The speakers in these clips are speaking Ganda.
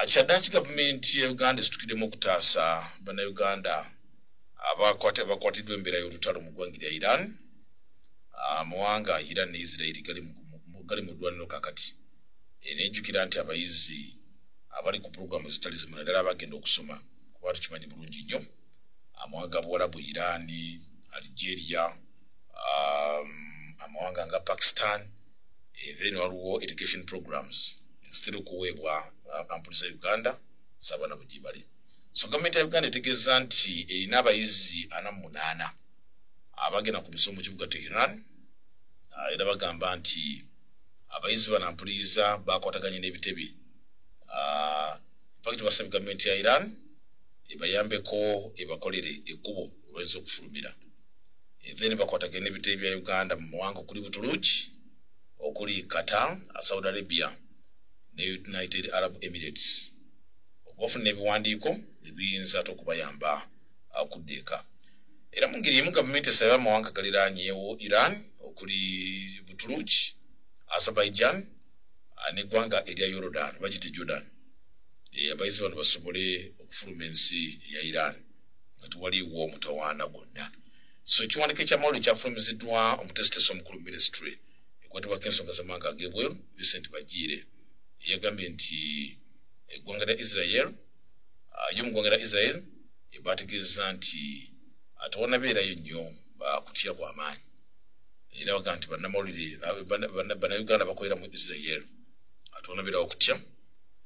ah, kyaddaki gavumenti ya uganda esitukidemu okutaasa bannayuganda abakwatiddwa embeera y'olutalo mu ggwanga lya iran amawanga ah, iran ne israeli gali mu ddwaniro kakati era ejjukira nti abayizi abali ku pulogulaamu zitali zimu naddala abagenda okusoma kuba tukimanyi bulungi nnyo amawanga buwalabu iraani algeria um, amawanga nga pakistan eh, then waliwo education programs zitera okuweebwa uh, kampuni za uganda sabaana bwegyebali so gavumenti ya uganda etegeeza nti erina abayizi ana mu munaana abagenda ku misomo kibuga teheran uh, era bagamba nti abayizi bana mpuliriza bakwataganye n'ebitebe uh, pakiti basabye gavumenti ya iran ebayambeko ebakolere ekkubo ebayinza okufulumira then bakwataganye n'ebitebe bya uganda mu mawanga okuli butuluki okuli qatar saudi arabia ne united arab emirates okubafuna ebiwandiiko ebiyinza te okubayamba akudda eka era mu ngeri emu gavumenti esaba amawanga galiranyewo iran okuli butuluki azerbaijan ah, neggwanga erya yordan bagite jordan eh, abayizi bano basobole okufuluma ensi ya iran nga tewaliwo omutawaana gwonna so ekiwandiiko ekyamawulire kyafulumiziddwa omutesitesi omukulu ministry ekwatibwako ensonga zamawanga agebweru vincent bagiire eyagambye nti eggwanga lya israel ah, yo mu ggwanga lya israel ebaategeeza nti atawanabeerayo nnyo bakutya kwamaanyi era baga nti banamawulire banauganda bakolera mu israel atwonabera okutya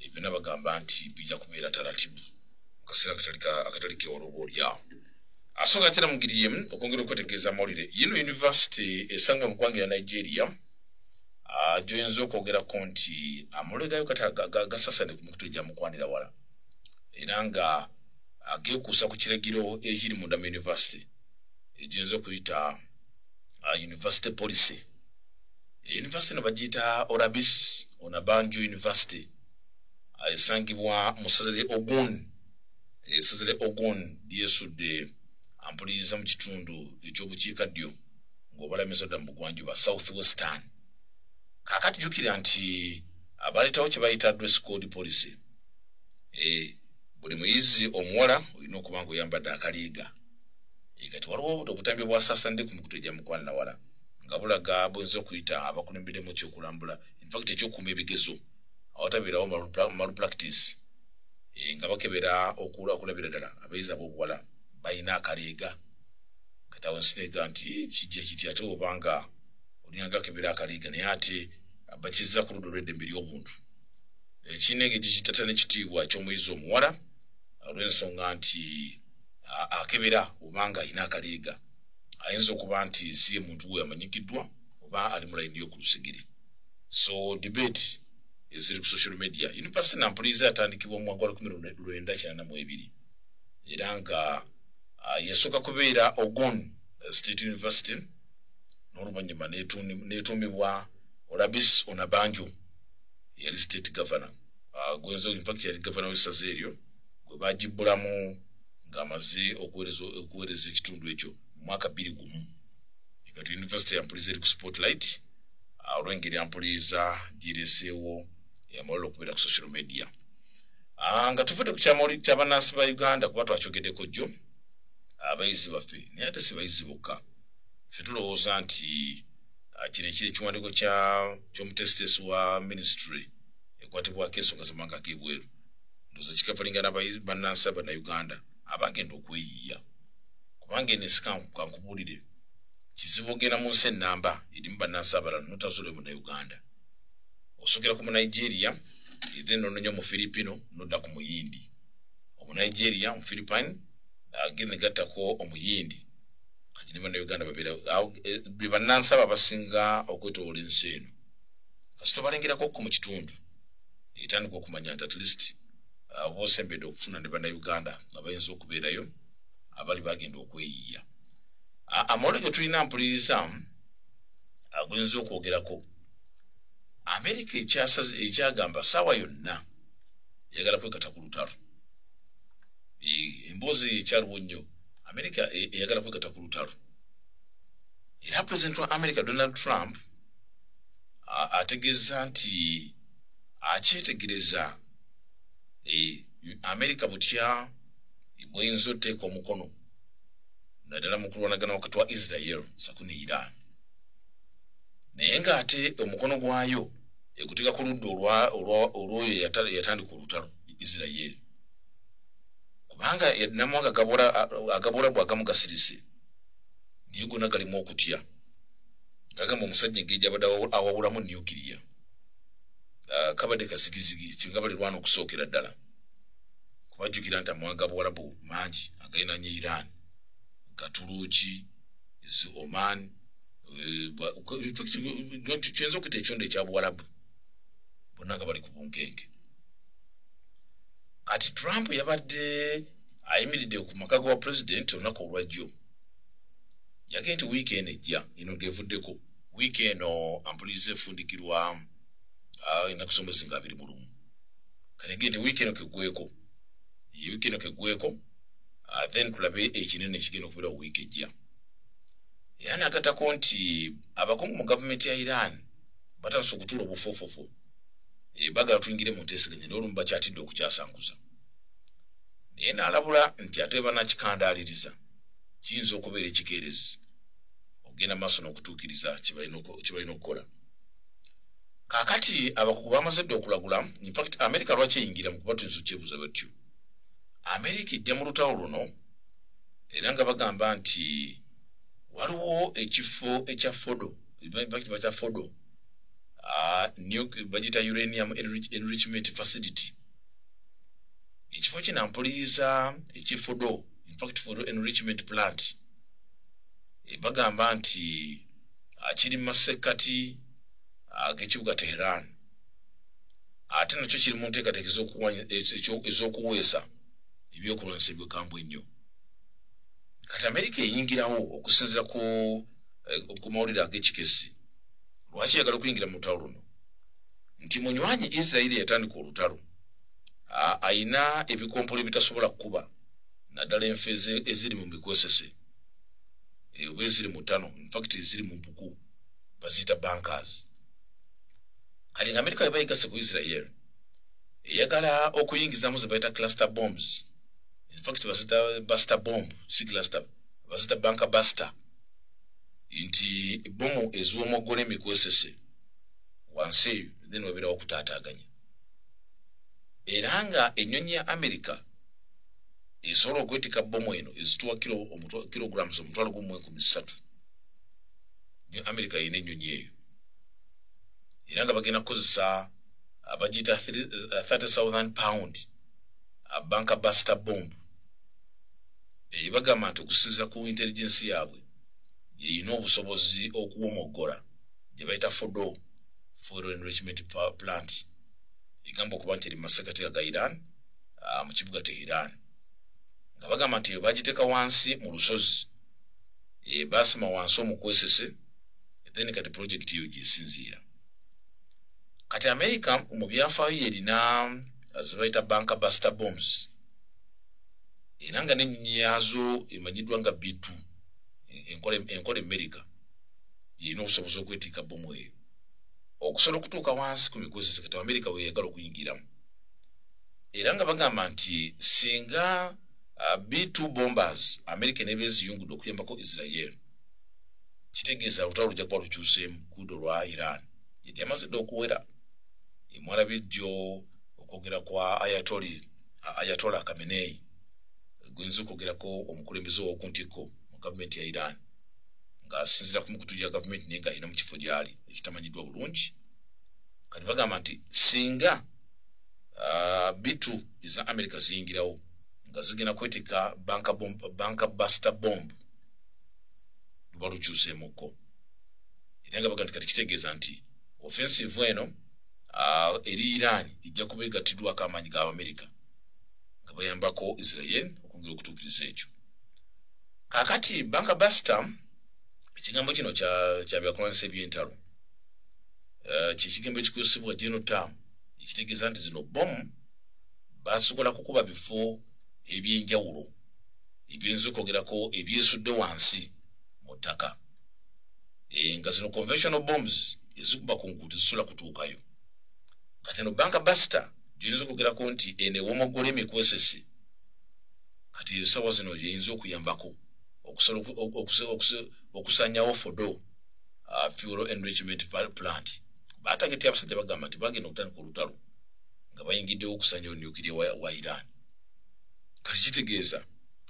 ebyona bagamba nti bijja kubeera taratibu mu kaseera akatali kewolooba olyawo asonga tera mu ngeri yemu okwongera okwetegeeza amawulire yino yunivasite esanga mu ggwanga lya nigeria ah, gyoyinza okwogerako nti amawulire gayo gasasane ku mikutu egyamukwanira wala era nga agekuusa ku kiragiro ekiri munda mu yunivasite egiyinza okuyita ah, university policy yunivasite no bagiyita orabis onabanjo yunivasite ah, esangibwa mu saza lya ogun esezere ogon lyesudde ampuliriza mu kitundu ekyobukiika ddyo ng'obalamiza dda mu bugwanjuba south western kakati jukira nti abaleetawo kye bayita dress code policy eh, buli muyizi omuwala olina okuba nga oyambadde akaliiga eh, kati waliwo obutambi bwasaasande ku mikutu egya mukwananawala nga bulaga buyinza okuyita abakulembedemu ekyokulambula infact ekyokuuma ebigezo awatabeerawo malpractice eh, nga bakebera okula okulabira ddala abayizi abobuwala balina akaleega katawo nsiteega nti kijja kiti ate obanga olinanga akebera akaleega naye ate bakizza ku ludda olweddembe ly'obuntu ekinenge gikitata n'ekitiibwa ky'omuyizi omuwala olw'ensonga nti akebera obanga alina akaleega ayinza okuba nti si ye muntu we amanyikiddwa oba ali mu layini y'oku lusegere so debate eziri ku social media yunivasite nampulizi atandikibwa mu mwaka wa lukumi lwenda kinana mu ebiri era nga uh, yasooka kubeera ogon uh, state university n'oluvannyuma netuumibwa olabis onabanjo yali state governor uh, gwenzo infact yali governor w'essaza eryo gwe bagibbulamu ng'amaze okuweereza ekitundu ekyo mu mwaka bbiri gumu kati yunivasite yampulizi eri ku spotlight ah, olwengeri ampuliiza gireseewo yamulala okubeera ku social media ah, nga tuvudde ku kyamawulire kyabanansi ba uganda kuba twakyogeddeko jjo abayizi baffe naye ate si bayizi bokka fe tulowooza nti ah, kino ekiri ekiwandiiko ky'omutesitesi wa ministry ekwatibwako ensonga zamawanga ag'ebweru ndoza kikafalinga nabayizi banansi abanauganda abagenda okweyiya kubanga eno esikankubuulire kizibu ogenda mu nsi enamba erimu bannansi abalala notazuule mu nauganda osukira ku munigeria then nononya mu filipino nodda ku muyindi omunigeria mu philippine agenda negattako omuyindi kati ne banauganda babeera eh, be bannansi abo abasinga okwetoola ensi eno kasita obalengerako ko mu kitundu etandika okumanya nti at least uh, bosembedde okufuna ne banauganda nga bayinza okubeerayo abali bagenda okweyiiya amawolo ge tulina mpuliriza aguyinza okwogerako amerika ekyagamba saawa yonna yagala kwekata ku lutalo emboozi ekyaliwo nnyo amerika e, eyagala kwekata ku lutalo era president wa america donald trump ategeeza nti akyetegereza e, amerika butya bweyinza oteeka omukono naddala mu kulwanagana wakati wa israel saku ne iran naye ng'ate omukono gwayo eguteka ku ludda olwoyo yatandika olutalo israel kubanga namwanga agabula bwagamu gasirise naye gona galimu okutya gagamba omusajja engeri gyabadde awawulamu nukiriya ah, kabadde kasigizigi fenga balirwana okusookera ddala kubajjukira nti amawanga buwalabu mangi agalinanye iran gatuluki zi oman kyenza okuyita ekyondo ekya buwalabu bonna nga bali ku bunkenge kati trump yabadde ayimiridde ku maka ga pulezidenti olunaku olwajjo yagee nti wiiki eno ejja eno gevuddeko wiiki eno ampuliriza efundikirwa ah, enakusomezi nga abiri mulumu kati gee nti wiiki eno kegweko wiiki eno kegweko ah, then tulabe ekinene ekigenda okubeera wiiki ejja era nagatako nti abakungu mu gavumenti ya iran batandise okutuula obufuufufu eh, bagala tuyingire mu nteeseganya naye olumu bakyatidde okukyasanguza naye naalabula nti ate banakikandaaliriza kiyinza okubeera ekikeerezi okugenda maaso n'okutuukiriza kyebalina okukola kakati abakugu bamaze dda okulagula infact america lwaki eyingira mu kubatinza okyebuza batyo america ejja mu lutawo luno era nga bagamba nti waliwo ekifo ekya fodo infact bakya fodo ah, bagita uranium enrichment facility ekifo kino mpuliiza ekifudo infact fodo enrichment plant eh, bagamba nti akiri mu masekkati ag'ekibuga teheran ate nakyo kiri mu nteekateeka ez'okuweesa ebyokulwanyisa ebyokambwe ennyo kati amerika eyingirawo okusinzira ku eh, mawulire ag'ekikesi lwaki yagala okuyingira mu lutalo luno nti munywanyi isirairi yatandika olutalo ayina ebikompola ebitasobola kukuba naddala enfe eziri mu mikozese oba eziri mutano infact eziri mu mpuku baziyita bankers kati nga amerika weba yegase ku israel eyagala okuyingizamu ze bayita cluster bombs infact bazita buster bomb si cluster bazita banka buster nti bomu eziwomoggola emikwesese wansi eyo then waberawo okutaataaganya era nga ennyonyi ya amerika esobola okwetika bomu eno ezituwa kilograms omutwalo gumu enkumi ssatu ne amerika yina ennyonyi eyo era nga bagenda kukozesa abagiyita 30000 pound abanka basta bomb eyo bagamba nti okusinzira ku intelligensi yaabwe yeyina obusobozi okuwomoggola gye bayita fodo fuel enrichment power plant egamba okuba nti eri mu masekateka ga iran ah, mu kibuga te iran nga bagamba nti eyo bagiteeka wansi mu lusozi eh, basima wansi omukwesese then kati project eyo gyesinziira kati america mu byafaayo yerina zebayita banka buster bombs era nga nenyinyi yaazo emanyiddwa nga bitu enkola emmerica yirina obusobozi okwetika bomu eyo okusobola okutuuka wansi ku migozi sekata wa amerika weyagala okuyingiramu era nga bagamba nti singa uh, b2 bombers amerika neba eziyungudde okuyambako israel kitegeeza lutalo lujja kuba lukyuseemu kuudo lwa iran yedi amaze dde okuwera emwala bijjo okwogera kwa ayatoli ayatola kameneyi guyinza okwogerako omukulembeze wokuntikko mu gavumenti ya iran ng'asinzira ku mikutu gya gavumenti naye ng'alina mu kifo gy'ali ekitamanyiddwa bulungi kati bagamba nti singa ah, bitu eza amerika ziyingirawo nga zigenda kweteeka banka basta bomb luba lukyuseemukko era nga baga nti kati kitegeeza nti offensive eno ah, eri iran ejja kuba egattiddwako amaanyi ga amerika nga bayambako israel okwongera okutuukiriza ekyo kakati banka basita ekigambo kino kyabyakulwanyisa ebyentalo eh, kyekigambo ekikozesebwa genotam ekitegeeza nti zino bomu basobola kukuba bifo ebyenjawulo ebyinza okwogerako ebyesudde wansi mu ttaka eh, nga zino conventional bombs ezikuba ku nguudo zisobola kutuukayo kati no banka basita gyoyinza okwogerako nti eno ewomogola emikwesesi kati esawa zino yeyinza okuyambako okusobola okusanyawo fodo uh, fuel enrichment plant batageti abasajja bagamba nti bagenda okutandika olutalo nga bayingiddewo okusanyawo nukiria wa iran kati kitegeeza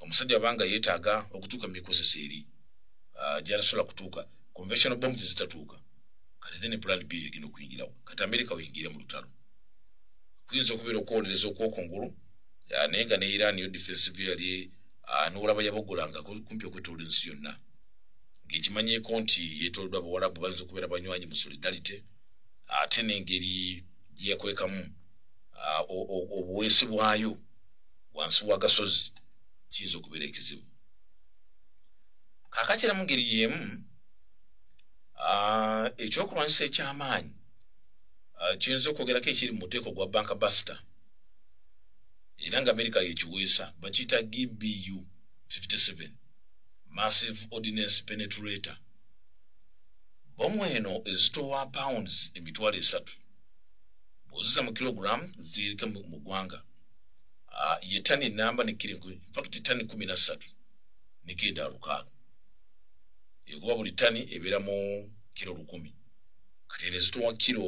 omusajja abanga yetaaga okutuuka mu mikozesa eri uh, gyatasobola kutuuka conventional bomb gyezitatuuka kati then plan b egenda okuyingirawo kati amerika weyingire mu lutalo kuyinza okubeera okwolereza okwokungulu ah, naye nga ne iran yo defensive yali ah, nowolaba yabogolanga kumpi okwetoola ensi yonna ngaekimanyeko nti yetoloddwa abawalabu bayinza okubeera banywanyi mu solidarity ate nengeri gyeyakwekamu ah, obuweesi bwayo wansi wagasozi kiyinza okubeera ekizibu kakakira mu ngeri yemu ah, ekyokulwanyisa ekyamaanyi ah, kiyinza okwogerako ekiri mu muteeko gwa banka basita era nga amerika yekiweesa bakiyita gbu 57 massive ordinance penetrator bomu eno ezitowa pounds emitwalo esatu bwoziza mu kilogram zirika mu ggwanga ah, ye tani enamba nekiri fakiti tani kumi na ssatu negenda lukaaga ekuba buli tani ebeera mu kiro lukumi kati eno ezitowa kiro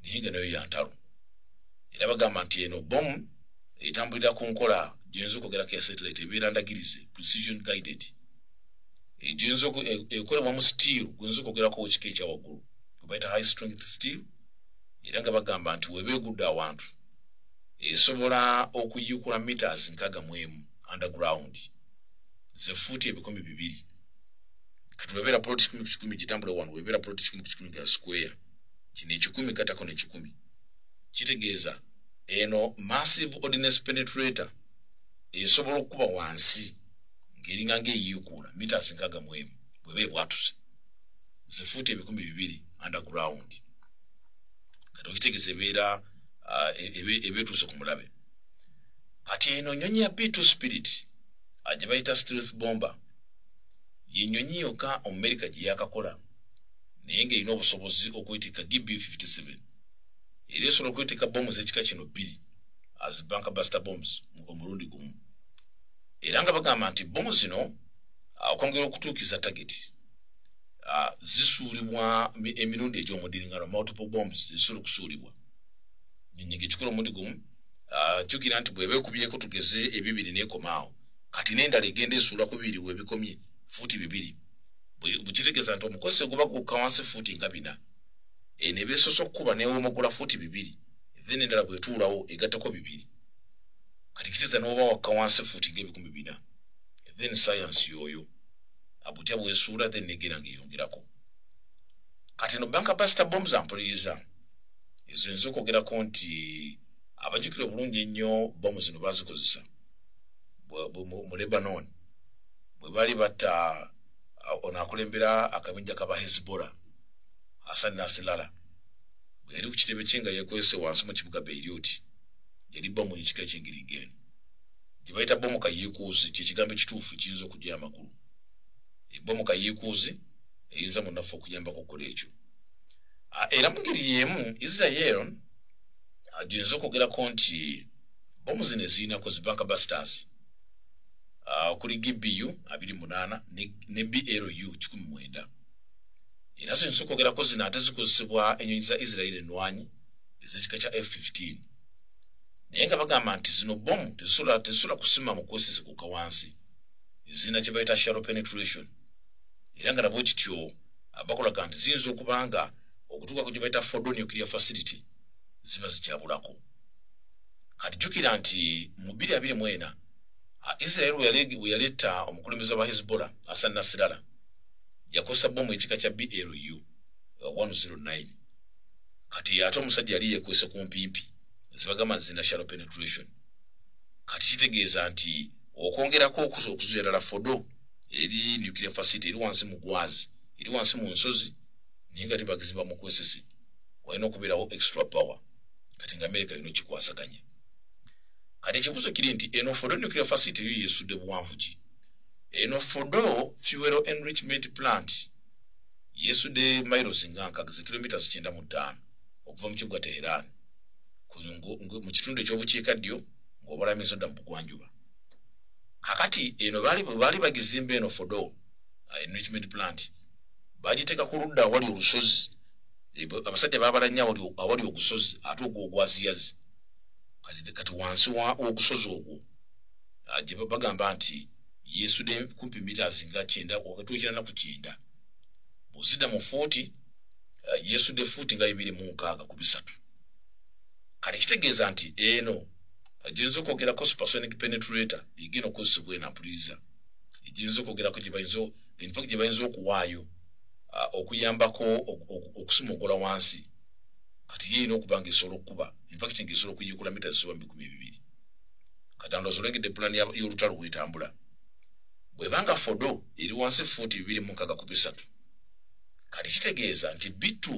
naye nga nayo yantalo era bagamba nti eno bomu etambulira ku nkola gyeyinza okwogerako ya satellite ebeera ndagirize precision guided egyinza e- ekolebwa mu steel gweyinza okwogerako ekika ekyawaggulu gwebayita high strength steel era nga bagamba nti weba egudde awantu esobola okuyiikula meters nkaga mu emu underground zefuuti ebikumi bibiri kati webera poloti kikumi kikumi kitambula wano webera poloti kikumi kikumi nga square kino ekikumi katako nekikumi kitegeeza eno massive ordinance penetrator esobola okukuba wansi ngeringa ngaeyiikuula mitas nkaga mwemu bweba ebwatuse zifuuta ebikumi bibiri underground kati okitegeeza ebeera uh, e, e, ebetuuse ku mulabe kati eno nyonyi ya b2 spirit ajebayita strith bomber ye nnyonyi yokka omumerika gye yaakakola naye ng'erina obusobozi okwetikka gb 57 era esobola okwetikka bomu z'ekika kino bbiri as bank buster bombs omulundi gumu era nga bagamba nti bomu zino okwongera okutuukiza tageti ah, zisuulibwa emirundi egy'omudiringano multiple bombs zisobola okusuulibwa nnyonyi ng'ekikola omundi gumu ah, jjukira nti bw'eba ekubyeko tugeze ebibiri n'ekomaawo kati n'endala egenda esuula ku bibiri webikomye fuuti bibiri bwekitegeeza nti omukozi eguba gukka wansi fuuti nga bina eno eh, ebesosa okukuba newomogula fuuti bibiri then endala bwetuulawo egattako bibiri kati kiteeza noba wakka wansi fuuti nga ebikumi bina then sayansi yoyo abutya bwesuula then negera ngaeyongerako kati no banka pasita bomu zampuliriza ezo nza okwogerako nti abajukire obulungi ennyo bomu zino bazikozesa mu lebanon bwe bali batta ono akulembera akabinja kaba hezbola hasan nasilala bwe yali ku kitebe kye nga yekwese wansi mu kibuga beiroti yali bomu yekika ekyengiringeeno gye bayita bomu kayiikuuzi kyekigambo ekituufu kiyinza okugya amakulu ebomu kayiikuuzi eyinza munaffe okuyambako okukola ekyo era mungeri yemu israel agyinza okwogerako nti bomu zino ezirinako zibanka busters ah, okuli gbu abiri munaana ne blu kikumi mwenda era zino zikwogerako zino ate zikozesebwa enyonyi za israeli enwanyi ezekika kya f 15 naye nga bagamba nti zino bomu tezisobola kusima mu kwesizikuka wansi ezirina kye bayita sharo penetration era nga nabwe kityo abakolaga nti ziyinza okuba nga okutuukako gye bayita fodonuclear facility ziba zikyabulako kati jukira nti mu bbiri abiri mu ena israel we yaleeta omukulembeze wa hezbollah asan nasirala yakozesa bomu ekika kya blu 109 kati ate omusajja yali yekwese ku mpimpi zibagamba zina shallow penetration kati kitegeeza nti okwongerako okuza okuzuya ddala fodo eri nuclear facility eri wansi mu gwazi eri wansi mu nsozi naye nga tibagizimba mu kwesisi walina okubeerawo extra power kati nga amerika yona okikwasaganya kati ekibuzo kiri nti eno fodo nuclear facility yo yesudde buwanvu ki eno fodo fuel enrichment plant yesudde miles nga nkaga ze kilometres kyenda mu ttaano okuva mu kibuga teheran mu kitundu ekyobukiika ddyo ng'obalamiza odda mu bugwanjuba kakati eno baali bagizimba eno fodo uh, enrichment plant bagiteeka ku ludda awali olusozi abasajja babala nnyo awali ogusozi ate ogwo ogwaziyazi kati wansi wogusozi ogwo ah, gye bagamba nti yesude kumpi mitas nga kyenda wakati wekina naku kyenda bwozidda mu fuuti ah, yesude fuuti nga bibiri mu nkaaga ku bisatu kati kitegeeza nti eno ah, gyinza okwogerako supersonic penetrator egenda okozesebwa enapuliriza egyinza okwogerako gyebayinza infact gye bayinza okuwaayo uh, okuyambako okusumugula wansi kati ye erina okuba nga esobola okukuba infact nga esobola okuyikula mita zisoba mu bikumi bibiri kati ando osolengedde pulani y'olutalo bwetambula bwebanga fodo eri wansi fuuti bibiri mu nkaga ku bisatu kati kitegeeza nti bittu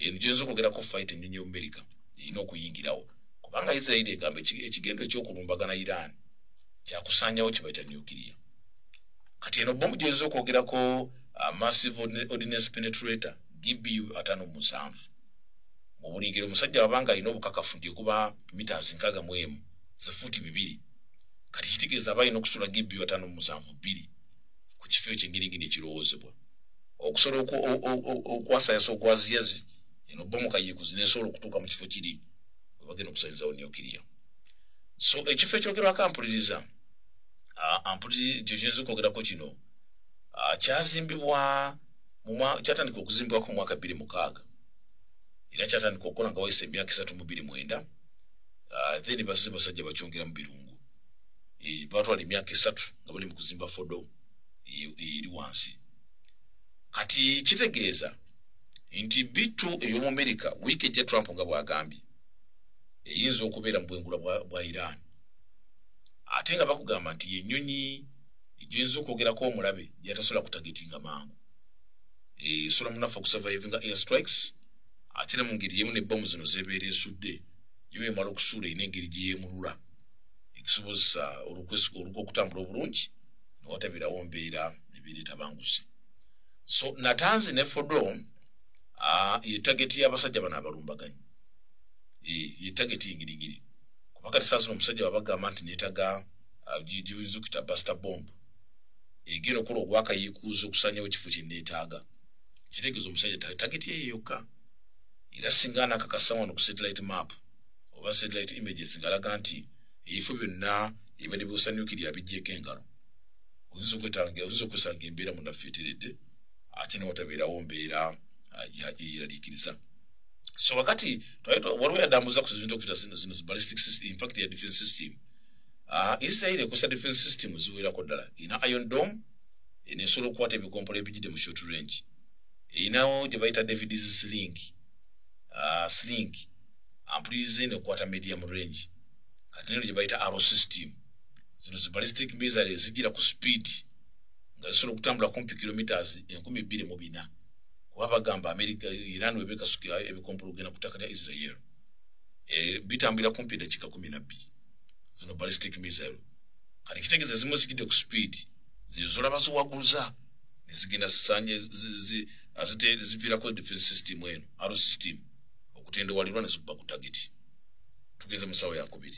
eno gyinza okwogerako fight ennyonyi y'omumerika erina okuyingirawo kubanga isirairi egamba ekigendo eky'okulumbagana iran kyakusaanyawo kibaita nuclear kati eno bomu gyoyinza okwogerako uh, massive ordinance penetrator gbu atano musanvu mubuligiro omusajja wabanga alina obukakafu nti okuba mitas nkaga mu emu zifuuti bibiri kati kitegeeza aba alina okusula gbu atano musanvu bbiri ku kifo ekyo engeri ngini ekirowoozebwa okusola okwasayasa ogwaziyazi eno bomu kayikuzi nesobola okutuuka mu kifo kiri webagenda okusanyizawo neokiriya so ekifo ekyogerwako ampuliriza ah, ampuliri ekyo kiyinza okwogerako kino ah, kyazimbibwa kyatandika okuzimbibwako omwaka bbiri mukaaga era kyatandika okukola nga wayisa emyaka esatu mu bbiri mwenda ah, then basi basajja bakyongera mu birungu eh, batwala emyaka esatu nga bali mu kuzimba fodo eri wansi kati kitegeeza nti bittu ey'omumerika wiiki ejja trump nga bw'agambye eyinza okubeera mu bwengula bwa iran ate nga bakugamba nti yenyonyi gyinza okwogerako omulabe gyatasobola kutagetinga mangu esobola eh, munaffe okusurvivinga air strikes ate ne mu ngeri yemu nebbomu zino zebeera esudde yo emala okusuula erina engeri gyeyemulula ekisobozesa oluga okutambula obulungi newatabirawo mbeera ebeera etabanguse so natanzi ne fodo ah, yetageti y'abasajja bano abalumbaganyi eh, yetageti engiringiri kuba kati saa zino omusajja wabagamba nti netaga uh, giyinza okuyita basta bomb egenda okukola ogwakayiikuuza okusanyawo ekifo kyenetaaga kitegeeza omusajja tageti eyo yokka era singa anakakasa wano ku satellite map oba satellite images ngalaga nti ebifo byonna ebibadde biwusanyukiri abijjeko engalo oyinza okwetanga oyinza okwesanga embeera munaffe eteredde ate newatabeerawo mbeera uh, eyeraliikiriza so wakati twaitwa waliwo yadambuza ku zintu okuta zino zino ballistic system in fact ya defense system ah uh, israel ekusa defense system zuwera ko dala ina iron dome ene solo kwate bikompola ebijide mu short range inawo je baita david is sling ah uh, sling ampulize ne kwata medium range kati ne je baita arrow system zino zi ballistic missiles zijira ku speed nga zisolo kutambula kumpi kilometers 12 mu bina kuba bagamba amerika iran webekasuka ebikompologena ku ttaka lya israel eh, bitambulira kumpi eddakiika kumi nabbiri zino ballistic missile kati kitegeza ezimu zigidde ku speed zezolaba ziwaguza nezigenda zisanye ziviirako defense system eno aro system okutendewalirwa nezikuba ku tageti tugeze mu ssaawa yakubiri